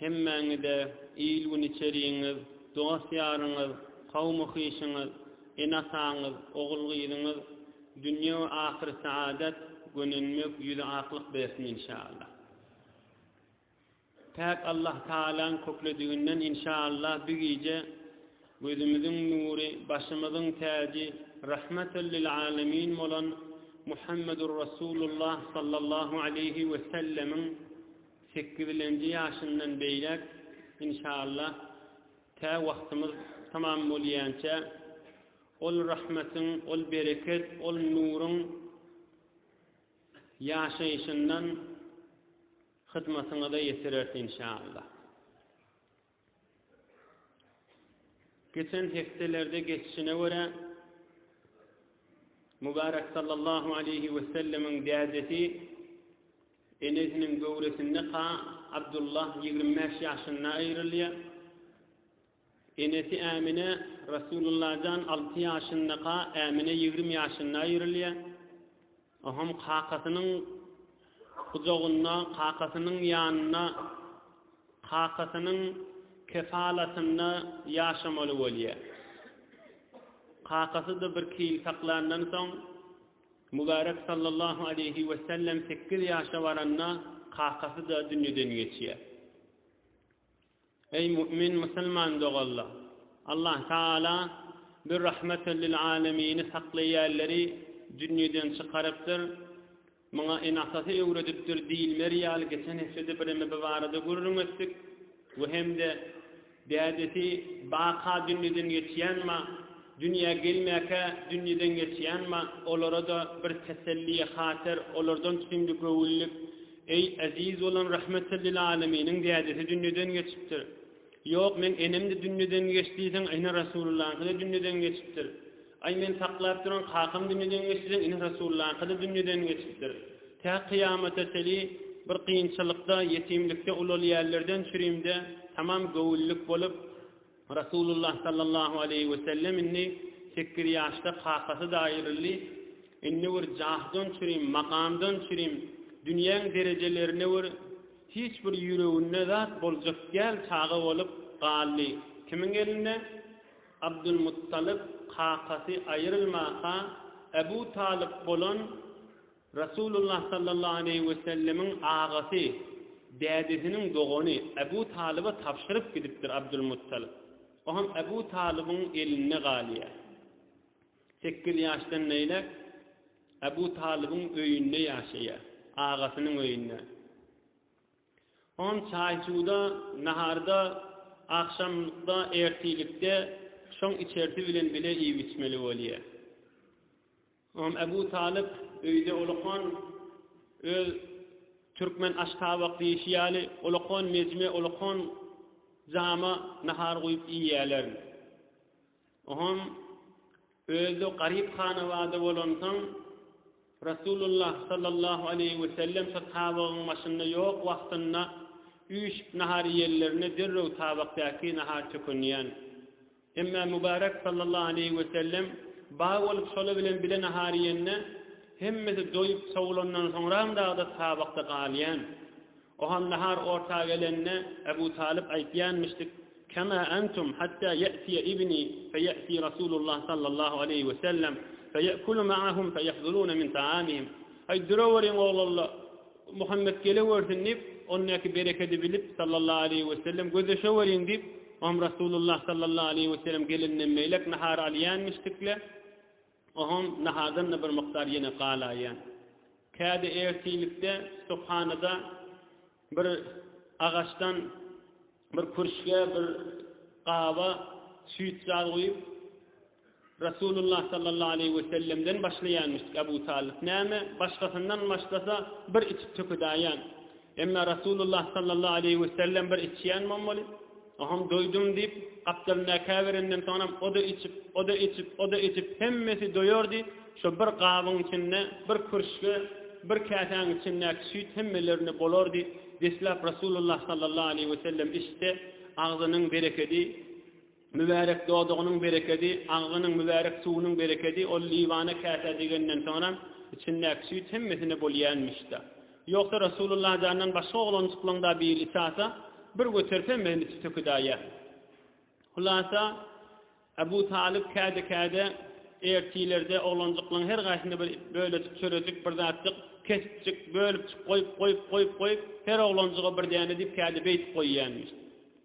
Hemmäňize il-gün içerigiňiz, dost-ýaryňyz, kowmy-hyşyňyz, ene-ataňyz, ogul-gyzyňyz dünýe we ahyry saadat, gönenmek, ýüzi aklyk bersin inşaallah. Päk Allah Tagalaň köklediginden inşaallah bi gije gözümiziň nury, başymyzyň täji, rahmatal lil alemin bolan Muhammedur Rasulullah sallallahu aleýhi wesellemiň Sekizilenji ýaşyndan beýläk inşallah tä wagtymyz tamam bolýança ol rahmetiň, ol bereket, ol nuruň ýaşaýşyndan hyzmatyňyza ýetireris inşallah. Geçen hepdelerde geçişine görä, Mübärek sallallahu aleýhi wesellemiň dädesi enesiniň göwresinde ka Abdullah ýigrimi bäş ýaşynda aýrylýar. Enesi Ämine Rasulullah jan alty ýaşyndaka Ämine ýigrimi ýaşynda aýrylýar. O hem kakasynyň gujagynda, kakasynyň ýanynda, kakasynyň kefalatynda ýaşamaly bolýar. Kakasy-da birki ýyl saklandan soň, Mübärek sallallahu aleýhi wesellem sekiz ýaşa baranda kakasy-da dünýeden geçýär. Eý mu'min musulman doganlar! Allah Tagala bir rahmetel lil alemini saklaýanlary dünýeden çykarypdyr, muňa in atasy öwredipdir diýilmeri ýaly geçen hepdede bireme bu barada gürrüň etdik we hem-de dädesi baka dünýeden geçýän ma, dünýä gelmäkä dünýeden geçýän ma olara-da bir teselliýe hater olardan süňňi göwünlik Eý, eziz bolan Rahmetellilâleminiň dädesi dünýeden geçipdir. Ýok, meň enem-de dünýeden geçdi diýseň, ene Resullylaňky-da dünýeden geçipdir. Aý, men saklap duran kakam dünýeden geçdi diýseň, ene Resullylaňky-da dünýeden geçipdir. Tä kyýamata çeli bir kynçylykda, ýetimlikde ulalýanlerden çürimde tamam göwünlik bolup, Rasulullah sallallahu aleýhi wesellem indi sekiz ýaşda kakasy-da aýryldy. Indi bir jahdan çürim, makamdan çürim, dünýäň derejelerine bir hiç bir ýüreginde zat boljak däl çaga bolup galdy. Kimiň elinde? Abdulmuttalyp kakasy aýrylmaka Ebu Talyp bolan Resulullah sallallahu aleýhi wesellemiň agasy, dädesiniň dogany Ebu Talyba tabşyryp gidipdir Abdul Muttalyp. O hem Ebu Talybyň elinde galýar. Sekiz ýaşdan beýläk Ebu Talybyň öýünde ýaşaýar, agasynyň öýünde. O hem çaý-suwda, naharda, agşamda, ertirlikde şoň içersi bilen bile iýip-içmeli bolýar. Ymam Ebu Talyp öýde olakan öz türkmen aştabak diýişi ýaly olakan mejme, olakan jama nahar guýup iýýärler. Oňam özi garyp hanabada bolansoň Rasulullah sallallahu aleýhi we sellem şo tabagyň başynda ýok wagtynda üýşüp nahar iýenlerinde derrew tabakdaky nahar tökünýän. Emma Mübärek sallallahu aleýhi wesellem baý bolup şolar bilen bile nahar iýende, hemmesi doýup sowulandan soňram dagda tabakda galýan. Oham nahar orta gelende Ebu Talyp aýtýanmyşdyk, Kema entum hatta ýe'tiýe ibni feýe'ti Rasulullah sallallahu aleýhi wesellem feýekulu ma'ahum feýahzuruna min ta'amihim. Aý duraweriň oglanlar! Muhammet gelegörsün diýip, ondaky berekedi bilip, sallallahu aleýhi wesellem, gözleşeweriň diýip, oňam Resulullah sallallahu aleýhi wesellem gelenden beýläk nahar alýanmyşdykle, oňam nahardan-da bir mukdar ýene galaýýan. Kädi ertirlikde stokhanada bir agaçdan bir kürşge, bir gaba süýt zat guýup, Resulullah sallallahu aleýhi we sellemden başlaýarmyşdyk Abu Talyp. Näme, başgasyndan başlasa, bir içip tökedaýan. Emma Resulullah sallallahu aleýhi we sellem bir içýän bommaly. Oňam doýdum diýip, gapdalyndaky käberenden soňram o-da içip, o-da içip, o-da içip, hemmesi doýardy, şo bir gabyň içinde, bir kürşge, bir käsäň içindäki süýt hemmelerine bolardy. Deslap Resulullah sallallahu aleýhi we sellem içse, agzynyň berekedi, Mübärek dodagynyň berekedi, agzynyň mübärek suwunyň berekedi ol Liwana käsä degenden soňra içindäki süýt hemmesine bolýänmiş-de. Ýogsa Resulullah jandan başga oglanjyklaň-da biri içasa, bir göterip hemmesini içip töküdäýýär. Hulasa, Abu Talyp käde-käde ertilerde oglanjyklaň her gaýsyna bir bölejik çörejik, bir zatjyk, keşpjik, bölüpjik goýup, goýup, goýup, goýup, her oglanjyga bir däne diýip käde beýdip goýýanmyş.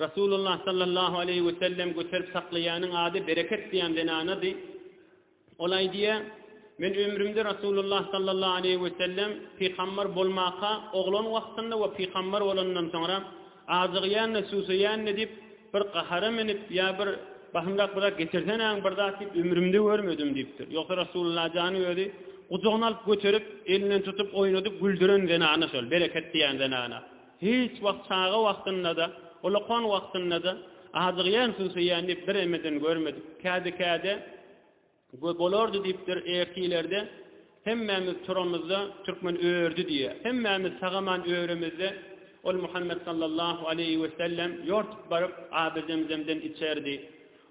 Rasulullah sallallahu aleýhi we sellem göterip saklaýanyň ady Bereket diýen zenanady. Ol aýdýar, Men ömrümde Rasulullah sallallahu aleýhi we sellem pygambar bolmaka oglan wagtynda we pygambar bolandan soňra ajygýan-da, susaýan-da diýip, bir gahara menip ýa bir Basymrak bir zat getirsenäň bir zat diýip ömrümde görmedim diýipdir. Ýogsa Rasulullah jany özi gujagyna alyp göterip, elinden tutup oýnadyp güldüren zenana şol Bereket diýen zenana. Hiç wagt çaga wagtynda-da, ulakon wagtynda-da ajygýan, susaýan diýip bir emeden görmedik. Kädi-käde we bolardy diýipdir, ertilerde hemmämiz turamyzda türkmen ördi diýýär. Hemmämiz sagaman öremizde ol Muhammet sallallahu aleýhi wesellem ýortup baryp Abyzemzemden içerdi.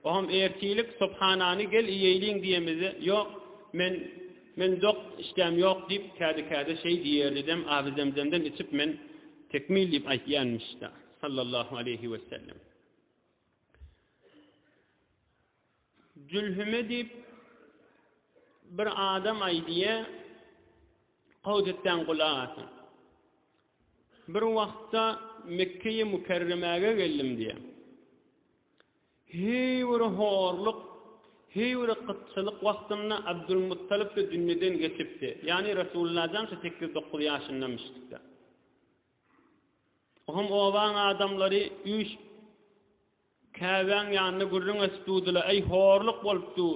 Oňam ertirlik subhanany gel iýeýliň diýemizde, Ýok, men, men dok, işdäm ýok diýip, käde-käde şeý diýerdidem, Abizemzemden içip men tekmil diýip aýtýanmyşda, sallallahu aleýhi wesellem. Jülhüme diýip bir adam aýdýa, Gowut etseň gulak asyn. Bir wagtda Mekkeýi Mükerremäge geldim diýä. Heý bir horluk, heý bir gytçylyk wagtynda Abdulmuttalyp-da dünýeden geçipdi. Ýagny Resulullajan şu sekiz-dokuz ýaşyndamyşdykda. O hem obaň adamlary üýşüp Käbäň ýanyna gürrüň açyp durdylar, Äý horluk bolupdur!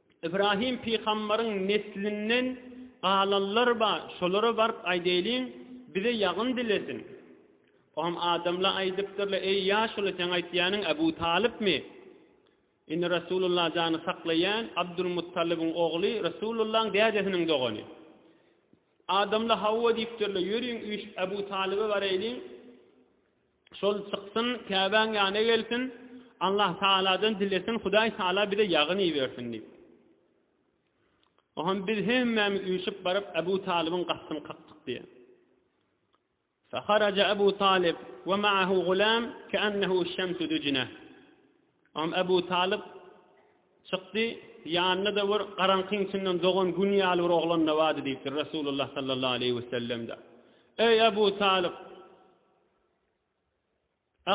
Ybrahym pygambaryň neslinden galanlar bar, şolara baryp aýdaýlyň, bize ýagyn dilesin. O hem adamla aýdypdyrlar, Eý, ýaşuly, seň aýtýanyň Äbu Talypmy? Indi Resulullah jany saklaýan Abdulmuttalybyň ogly, Resulullahyň dädesiniň dogany. Adamla hawa diýipdirler, ýörüň üýşüp Äbu Talyba baraýlyň. Şol çyksyn, Käbäň ýanyna gelsin, Allahtagaladan dilesin, Hudaýtagala bize ýagyn ibersin diýip. Oňa biz hemmämiz üýşüp baryp, Abu Talybyň gapysyny kakdyk diýýär. Faharaja Abu Talyb we maahu gulam keannehu şemsu dujine. Oňa Abu Talyb çykdy, ýanynda-da bir garaňkyň içinden dogan gün ýaly bir oglan-da bardy diýipdir Resulullah sallallahu aleýhi we sellem-de. Eý Abu Talyb!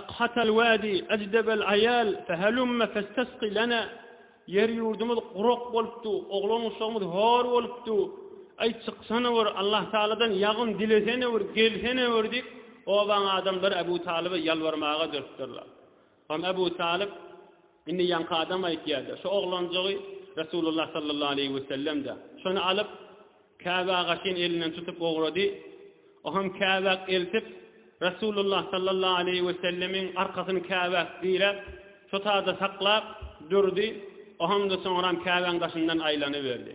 Aqhat al-wadi ajdab al-ayal fahallumma fastasqi lana, Ýer-ýurdumyz gurak bolupdy, oglan-uşagymyz hor bolupdy, aý, çyksana bir, Allahtagaladan ýagyn dilesene bir, gelsene bir diýip, obaň adamlary Abu Talyba ýalbarmaga durupdyrlar. Soň Ebu Talyp, Indi ýaňky adam aýtýar-da, şu oglanjygy Resulullah sallallahu aleýhi wesellem-de, şony alyp, Käbe agaçyn elinden tutup ugrady, o hem Käbäk eltip, Resulullah sallallahu aleýhi wesellemiň arkasyny Käbäk diräp, şo taýda saklap durdy, o hem-de soňram Käbäň daşyndan aýlanyberdi.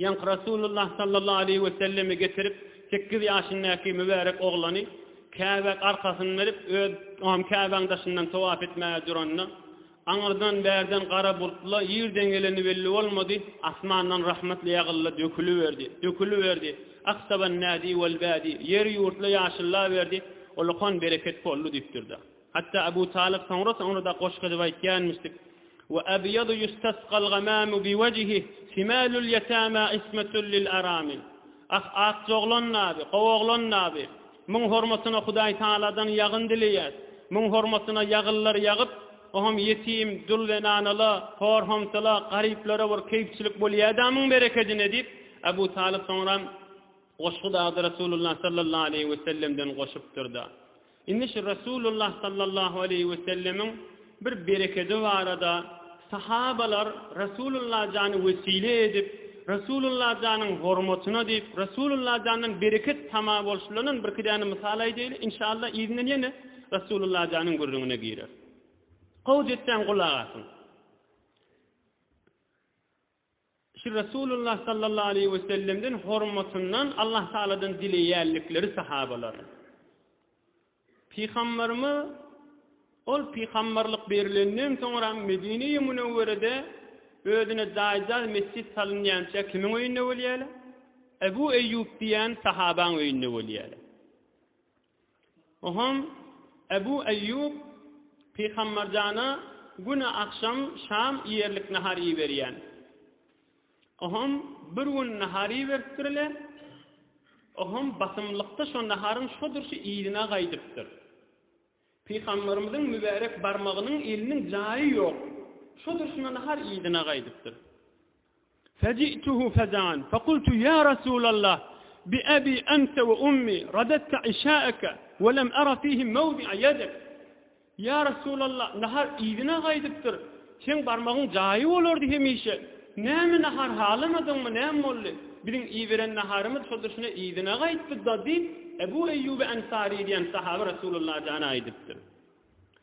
Ýaňky Rasulullah sallallahu aleýhi we selleme getirip, sekiz ýaşyndaky mübärek oglany Käbä arkasyny berip, öz am Käbäň daşyndan towap etmäge duranda, aňyrdan, bärden gara bultla ýerden geleni belli bolmady, asmandan rahmatly ýagyldy, döküliberdi, döküliberdi, Ahsaban nadi wal badi, ýeri ýurtla ýaşyllaberdi, ol okan bereket boldy diýipdir-de. Hatda Abu Talyp soňra-soňra-da goşgy edip aýtýanmyşdyk, Wa abyadu yustasqal gamamu bi wajhi, simalul yatama ismatun lil aramil. Ah, akjoglan nabi, gowoglan nabi! Muň hormatyna Hudaý Tagaladan ýagyn dileýäs. Muň hormatyna ýagyllar ýagyp, oňam ýetim, dul zenanala, hor-homsala, garyplara bir keýpçilik bolýa-da muň berekedine diýip, Abu Talyp soňra goşgy dagdy Resulullah sallallahu aleýhi wesellemden goşupdyr-da. Indi şu Resulullah sallallahu aleýhi we sellemiň bir berekedi barada sahabalar Resulullah jany wesile edip, Resulullah janyň hormatyna diýip, Resulullah jandan bereket tama bolşulanan birki däne mysal aýdaýly, inşallah yzyndan ýene Resulullah janyň gürrüňine gireris. Gowy ýetseň gulak asyň. Şu Resulullah sallallahu aleýhi we sellemden hormatyndan Allah Tagaladan dileýänlikleri sahabalaryň. Pygamberimiz ol pygamberlik berilenden soňram Medine-i Münewwerede özüne jaýjaz mesjit salynýança kimiň öýünde bolýarlar? Ebu Eýýub diýen sahabaň öýünde bolýarlar. Oňham Ebu Eýýub pygamberjana güne agşam şam iýerlik nahar iberýän. Oňham bir gün nahar iberipdir-le, oňham basymlykda şo naharyň şo durşy yzyna gaýdypdyr. Pygamberimiziň mübärek barmagynyň eliniň jaýy ýok, şo durşuna nahar yzyna gaýdypdyr. Feji'tuhu fejan fekultu ýa Resulallah bi abi ente we ummi radadte işaeke we lem ara fihi mewdi'a ýedek. Ýa Resulallah, nahar yzyna gaýdypdyr, seň barmagyň jaýy bolardy hemişe. Näme nahar halamadyňmy, näme boldy? Biziň iberen naharymyz şo-da-şuna yzyna gaýtdy-da diýip, Ebu Eýýubi Ensary diýen sahaby Resulalla jana aýdypdyr.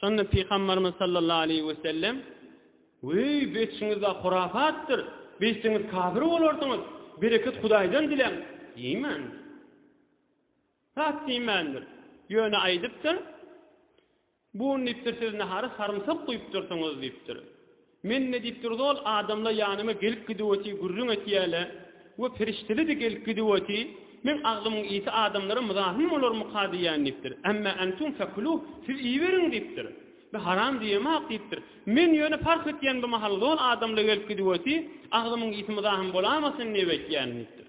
Şonda Pygamberimiz sallallahu aleýhi we sellem, Weý, beýtişiňiz-ä hurapatdyr, beýtseňiz kafir bolarsyňyz, bereket Hudaýdan diläň, diýmändir. Zat diýmändir. Ýöne aýdypdyr, Bu gün diýipdir siz nahara sarymsak guýupdyrsyňyz diýipdir. Men ne diýip durdy ol adamla ýanyma gelip gidiwoti gürrüň etýäle we perişdeledi gelip gidiwoti men aglymyň ýiti adamlara muzahym bolarmyka diýýän diýipdir emma entum fekuluh siz iýiberiň diýipdir be haram diýemok diýipdir men ýöne parh etýän bu mahal zol adamla gelip gidiwoti aglymyň ýiti muzahym bolamasyn diýip etýän diýipdir.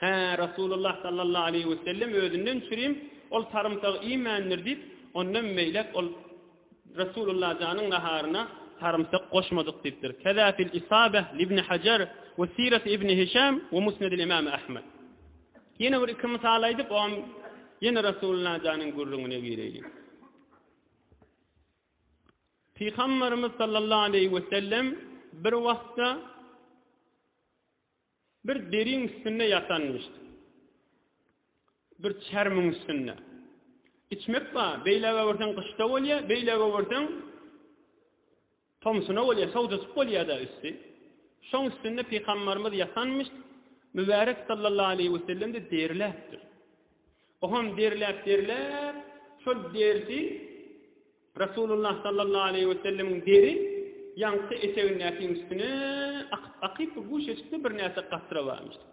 Hä, Resulullah sallallahu aleýhi we sellem özünden çürim ol sarymsagy iýmändir diýip, ondan beýläk ol Resulullah janyň naharyna sarymsak goşmadyk diýipdir. Keza fil Isabeh libni Hajar we Siret ibni Hişam we Musnedil imam Ahmed. Ýene bir iki mysal aýdyp, oňam ýene Resulullah janyň gürrüňine gireýlik. Pygamberimiz sallallahu aleýhi we sellem bir wagtda Bir deriň üstünde ýatanmyşdy. Bir çärmiň üstünde. Içmek bar. Beýläge öwürseň gyşda bolýar, beýläge öwürseň tomsuna bolýar, sowdajyk bolýar-da üsti. Şoň üstünde pygambarymyz ýatanmyşdy. Mübärek sallallahu aleýhi we sellem-de derläpdir. Ohem derläp-derläp, şol derisi Resulullah sallallahu aleýhi we sellemiň deri ýaňky etegindäkiň üstüne akyp-akyp bu guşeçikde birnäçe katra barmyşdy.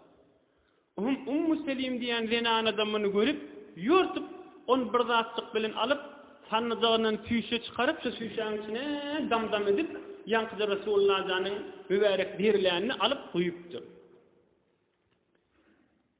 Oňam Ummu Selim diýen zenanada muny görüp, ýortup, ony bir zatjyk bilen alyp, sannyjagyndan süýşe çykaryp, şu süýşäň içine dam-dam edip, ýaňkyja Resulullah janyň mübärek derilänini alyp guýupdyr.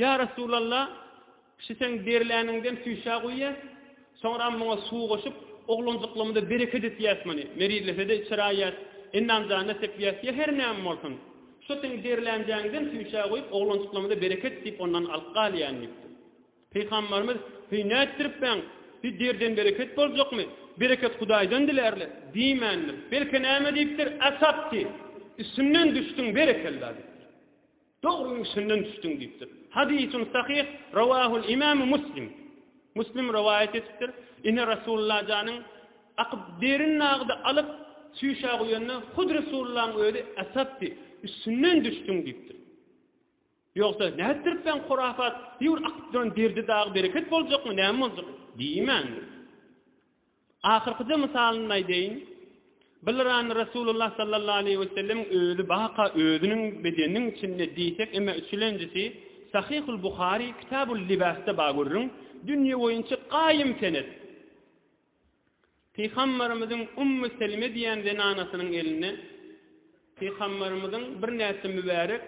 Ýa Resulalla, şu seň derläniňden süýşä guýýas, soňram muňa suw goşup, oglanjyklygymyza bereket etýäs muny, merizlese-de içir aýýas, endam-janyna sepýäs, ýa her näme bolsun, şo seň derlänjäňden süýşä guýup, oglanjyklygymyza bereket diýip, ondan alyp galýan diýipdir. Pygamberimiz, Heý, nätdiripbäň? Heý, derden bereket boljakmy? Bereket Hudaýdan dilärler, diýmändir. Belki näme diýipdir, Asabti, üstümden düşdüň, berekella, diýipdir. Dogryň üstünden düşdüň diýipdir. Hadysun sahyh rawahul imam Muslim. Muslim rowaýat etipdir. Ine Resulullah janyň akyp derin nagydy alyp çüýşä guýanda hut Resulullahyň özi asapdy, üstünden düşdüň diýipdir. Ýogsa nätdirip sen hurafat, bir akyp duran derdi dagy bereket boljakmy, näme boljak? Diýmändir. Ahyrkyja mysalyny aýdaýyn. Bir lyrany Resulullah sallallahu aleýhi we sellemiň özi baka özüniň bedeniniň içinde diýsek eme üçülenjisi Sahyhul Buhary Kitabul Libasda bar görüň, dünýe boýunça gaýym senet. Pygambarymyzyň Ummu Selime diýen zenanasynyň elinde Pygambarymyzyň birnäçe mübärek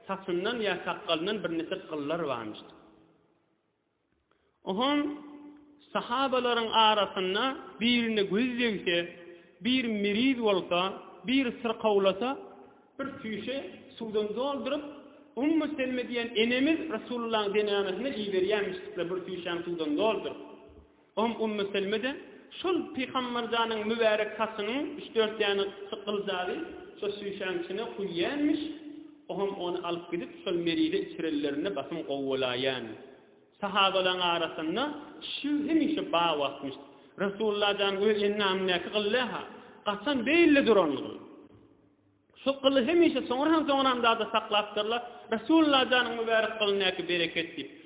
saçyndan ýa sakgalyndan birnäçe gyllar barmyşdy. Oňa sahabalaryň arasynda birine göz degse, bir miriz bolsa, bir syrkawlasa, bir süýşe suwdan dolduryp, Ummu Selme diýen enemiz Resulullahyň zenanasyna iberýärmişdikler bir süýşäň suwdan dolduryp. Oňam Ummu Selme-de şol Pygamber janyň mübärek saçynyň üç-dört däne çykyljagy şo süýşäň içine guýýarmiş. Oňam ony alyp gidip, şol merize içirenlerinde basym gowy bolaýýan. Sahabalaryň arasynda şu hemişe ba wagtmyş. Resulalla jan öz endamyndäki gyly-ha gaçan beýlli durandyr. Şu gyly hemişe soňra hem soňra hem zada saklapdyrlar. Resulalla janyň mübärek gylyndaky bereket diýip.